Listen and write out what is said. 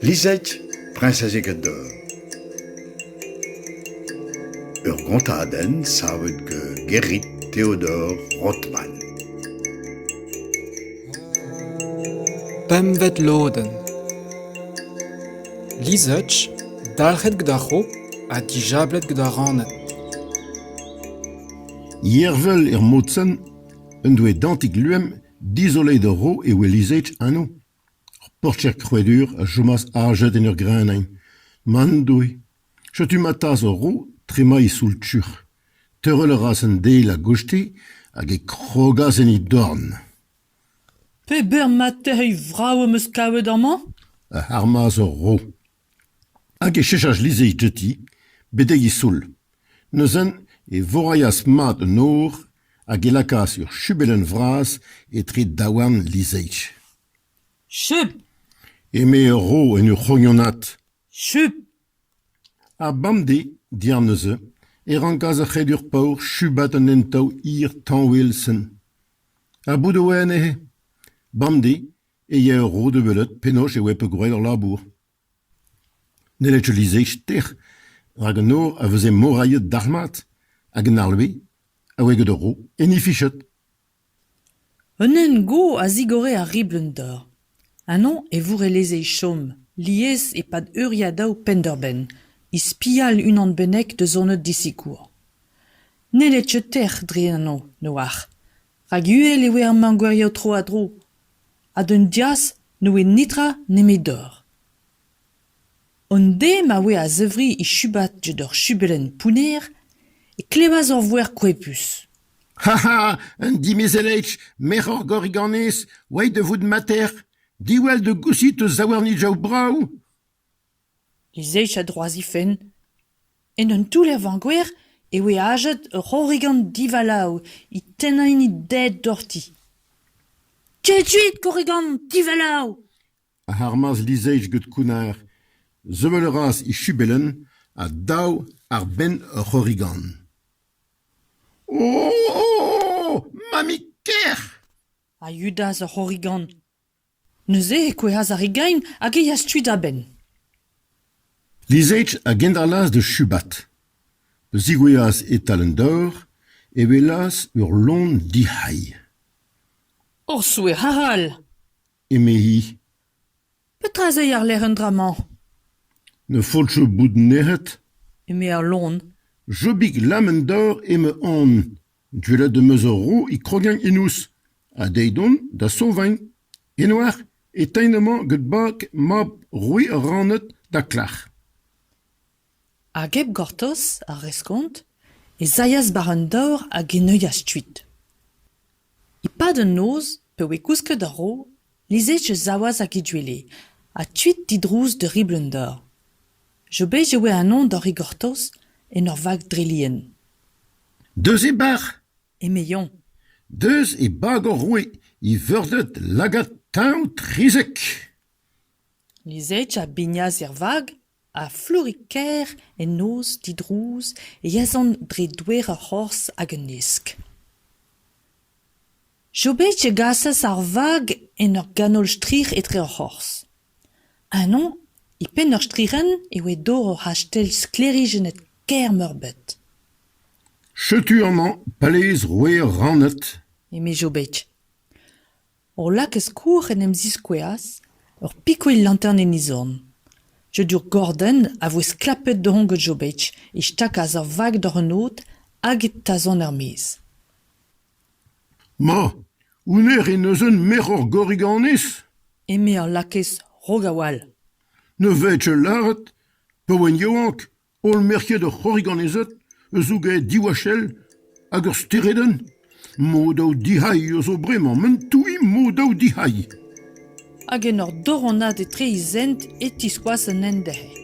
Lizette, priñsez Egador. Ur gontadenn savet gant Gerrit Theodor Rothman. Pempvet lodenn Lizette, dalc'het gant ar c'hro ha dijablet gant ar raned. Yervel er mod-sen Un doe dantik luem dizoleiet a ro e oa lizhet anv. Ur portier krouedur a chomas ajet en ur greñvadenn. Man doe. Setu ma tas ur ro tremañ e soul-tuc'h. Teurel a ras an deiz a-goste hag e krogas en he dorn. Peberzh matezh vrav am eus kavet amañ ? a armas ur ro. Hag e chechas lizherig diouti betek e soul. Neuze e vorailhas mat an nor hag e lakaas ur chubelenn vras etre daouarn lizherig. Chup ! eme ur ro en ur c'horianat. Chup ! Ha bemdez, diàr neuze, e rankas ar c'hredur paour chubat an hent-taol hir tañwel-sen. Ha bout e oa anezhe ? Bemdez e ya ur rod da welet penaos e oa peogwir ur labour. N'helled ket lizher ster, rak an nor a veze morailhet dalc'hmat, hag an arleve a oe gant ur ro en he fichet. Un hent-go a zigore ar ribl en dor. Anv e vourelezh chom, lies e-pad euriadaoù penn-da-benn, he spial unan bennak da zoned disikour. N'helled ket tec'h dre an hañv, ne oar, rak uhel e oe ar mañgweriañ tro-ha-tro, ha d'an diaz ne oe netra nemedoc'h. An deiz ma oe a-zevri e Chubat gant ur chubelenn pounner e klevas ur voer koepus. Ha ha ! un dimezellech, merc'h Gorriganez, oait da vout mater, diwall da gousit o zaouarnidjao brav ! e sech a-droazifenn. En un toull er vañgoer e oe ajet ur c'horrigan divalav é tennañ hini ded doc'hti. Ketuit, korrigan divalav! a armas Lizech get kounnar. Sevel a ras e chubellenn ha dav àr-benn ur c'horrigan. O! o! Mammig ker! a yudas ar c'horrigan. Neuze e kouezhas ar re gain hag e yeas kuit a-benn. Lizage a gendalc'has da Chubat. Pa zigouezhas e-tal an dor e welas ur lon dic'hailh. Ur souezh arall! eme-hi. Petra ez eo àr-lerc'h an dra-mañ? Ne faotro bout nec'het, eme ar lon. Jobig Lamendor emañ on. Gwelet em eus ur vro e krogañ enouz ha dezhi dont da Sauvagne. En oar e tein amañ gant bag mab roue ar Raned da Klac'h. Hag hep gortoz ar reskont ez aeas war an daor hag e neuias kuit. E-pad an noz, pa oe kousket a-raok, Lizhechu savas hag he gwele, ha tuit didrouz da riblenn dor. Jobet e oe anezhañ da rigortoz, en ur vag dre lien. Deus e bac'h ! eme Yann. Deus e bag hor roue, e veurded lagad teñv trizek. Lizhechu a bignas er vag ha flourez-kaer en noz didrouz e yazont dre douer ur c'horzh hag un hesk jobig a gasas ar vag en ur ganol-strir etre ur c'horzh ennañ e penn ur strirenn e oa dor ur c'hastell sklêrijennet kaer-meurbet setu amañ palez roer rannet eme jobig Hor lakez-kour en em ziskouezas, ur pikouilh lantern en izorn. Jodur Gordon a voe sklapet da ongan Jobetch e stakas ar vag doc'h an od hag e tazont er-maez. Ma, hounnezh en deus un merc'h gorre ganez ? eme ar lakez rok a-walc'h. Ne vez ket lâret, pa oan yaouank, Holl merkiet ur c'horrig-annezet eus zo ganet diwachell hag ur steredenn mod-daou dic'hailh eus zo bremañ m'an touiñ mod-daou dic'hailh. Hag en ur doronnad etre he zent e tiskoas un hent dezhañ.